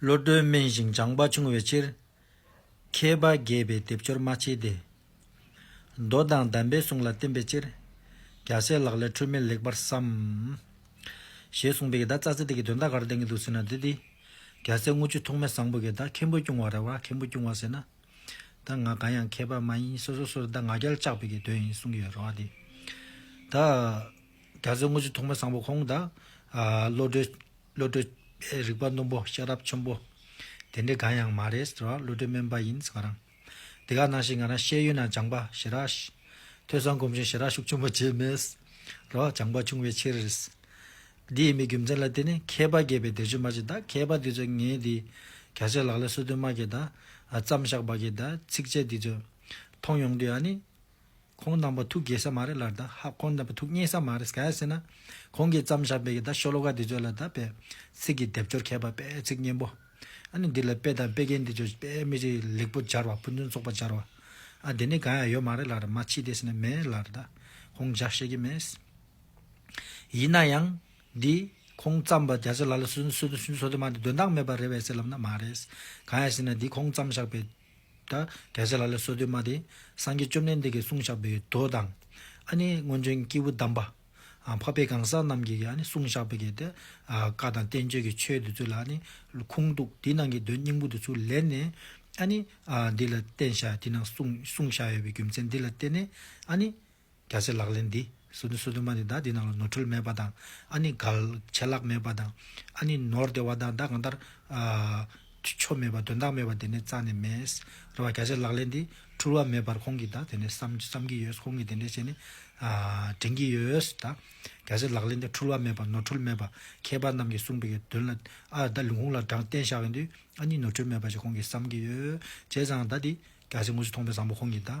བློ་གྲོས་དམན་ཞིང་སྦྱངས་པ་ཆུང་བའི་ཕྱིར། མཁས་པ་རྒས་པའི་སྡེབ་སྦྱོར་མ་བྱེད་དེ། མདོ་དང་གདམས་པའི་གསུང་ལ་བརྟེན་པའི་ཕྱིར། རྒྱ་བཟས་ལག་ལས་འཁྲུལ་མེད་ལེགས་པར་བསམ། ཞེས་གསུངས་པའི་གདའ་རྩ་ཚིག་དེ་གི་དོན་ད་གར་བསྟན་གྱི་འདུག་ཟེར་ན་དེ་དེ། རྒྱ་བཟས་རྔུལ་ཆུ་ཐོགས་མེད་བཟང་པོ་གི་གདའ་མཁན་པོ་སྐྱུང་བ་རེད་བ་མཁན་པོ་སྐྱུང་བ་ཟེར་ན། གདའ་ང་གང་ཡང་མཁས་པ་མ་ཡིན་སོ་སོ་སོར་གདའ་ང་རྒྱལ་བཅག་པའི་གི་དོན་ཡིན་གསུངས་ཀྱི་ཡོད་རེད་བ་དེ། ད། རྒྱ་མཚོའི་དངོས་གཞི་ཐོག་མའི་བཟང་པོ་ཁོང་དང། བློ་གྲོས། རིག་པ་རྣོན་པོ་ཤེས་རབ་ཆེན་པོ། དེ་འདྲའི་གང་ཡང་མ་རེད་ཟེར་བ་བློ་གྲོས་དམན་པ་ཡིན་ཟེར་ང་རང། དེ་ག་ནང་བཞིན་ང་རང་ཤེས་ཡོན་ན་སྦྱངས་པ་ཞེ་དྲགས། ཐོས་བསམ་སྒོམ་ཞིང་ཞེ་དྲགས་ཤུགས་ཆེན་པོ་བྱས་མེད། རེད་བ། སྦྱངས་པ་ཆུང་བའི་ཕྱིར། འདིའི་མི་རྒྱུ་མཚན་ལ་བརྟེན་ནས་མཁས་པ་རྒས་པའི་སྡེར་ཆུ་མ་བྱེད་ད་མཁས་པ་འདི་ཚོས་ངའི་འདི། ག་ཚད་ལག་ལས་སོ་དོན་མ་བརྒལ་ད། བརྩམས་བཞག་པ་བརྒལ་ད་ཚིགས་བཅད་འདི་ཚོས། མཐོང་ཡོང་དུས་ཨ་ནི། ཁོང་རྣམ་པ་ཐུགས་དགྱེས་ས་མ་རེད་ལར་ད་ཧ་ཁོང་རྣམ་པ་ཐུགས་མཉེས་ས་མ་རེད་གལ་སྲིད་ན་ཁོང་གིས་བརྩམས་བཞག་པའི་ད་ཤོ་ལོ་ཀ་འདི་ཚོ་ལ་ད་དཔེ་ཚིག་གི་སྡེབ་སྦྱོར་མཁས་པ་དཔེ་ཚིག་སྙན་པོ་ཨ་ནི་འདི་ལ་དཔེ་དང་དཔེ་རྒན་འདི་ཚོས་དཔེ་མི་རིགས་ལེགས་པོ་སྦྱར་བ་ཕུན་ཚོགས་ཚོགས་པ་སྦྱར་བ་ཨ་དེ་ནས་གང་ཡང་ཡོད་མ་རེད་ལར་མ་མཆིས་དེ་སྲིད་ན་མེད་ལར་ད་ཁོང་བཞག་ཤེས་ཀྱི་མེད། ཡིན་ན་ཡང། འདི། ཁོང་བརྩམས་པ་རྒྱ་ཚོས་ལ་ལ་སུ་སུ་སུ་སུ་སུ་དེ་མ་འདི་དོན་དག་མེད་པ་རེད་བས་སེ་ལབ་ན་མ་རེད། གང་ཡང་སྲིད་ན་འདི་ཁོང་བརྩམས་བཞག་པའི། ད་གལ་ཆེ་ལ་ལས་སོ་དུ་མ་དེ། སངས་རྒྱས་བཅོམ་ལྡན་འདས་ཀྱི་གསུང་བཤགས་པའི་མདོ་དང། ཨ་ནི་སྔོན་བྱོན་སྐྱེས་བུ་དམ་པ། འཕགས་པའི་གང་ཟག་རྣམས་ཀྱི་ཨ་ནི་གསུང་བཤགས་པའི་དེ། བཀའ་དང་བསྟན་བཅོས་ཀྱི་ཆོས་འདི་ཚོ་ལ་ཨ་ནི། ཁུངས་གཏུགས་དེ་ནང་གི་དོན་སྙིང་པོ་འདི་ཚོ་ལས་ནས། ཨ་ནི། འདི་ལ་བསྟན་བཤགས་དེ་ནང་གསུང་བཤགས་ཡོད་པའི་རྒྱུ་མཚན་འདི་ལ་བརྟེན་ནས་ཨ་ནི། རྒྱ་ཆེ་ལག་ལེན་འདི། སུ་དུ་སུ་དུ་མ་ནི་བདག་འདི་རྣམས་ལ་ནོར་འཁྲུལ་མེད་པ་དང། ཨ་ནི་གལ། ཆད་ལྷག་མེད་པ་དང། ཨ་ནི་ནོར་བདེ་བ་དང་བདག་གང་ལྟར། ཆོ་མེད་པ་དོན་དག་མེད་པ་དེ་ནི་རྩ་ནས་མེད། རེ་བ་རྒྱ་ཆེ་ལག་ལེན་འདི། འཁྲུལ་བ་མེད་པར་ཁོང་གིས་བདག་དེ་ནས་བསམ་གྱི་ཡོད་ཁོང་གིས་དེ་འདྲའི་ཆེ་ནི། དྲན་གྱི་ཡོད། བདག་རྒྱ་ཆེ་ལག་ལེན་འདི་འཁྲུལ་བ་མེད་པ་ནོར་འཁྲུལ་མེད་པ། མཁས་པ་རྣམས་ཀྱིས་གསུངས་པའི་དོན་ལ། བདག་ལུང་ཁུངས་ལ་དྲངས་བསྟན་བཞག་ཡོད་དུས། ཨ་ནི་ནོར་འཁྲུལ་མེད་པ་ཞེས་ཁོང་གིས་བསམ་གྱི་ཡོད། བྱས་ཙང་བདག་འདི། རྒྱ་ཆེ་དངོས་སུ་མཐོང་པའི་བཟང་པོ་ཁོང་གིས་བདག།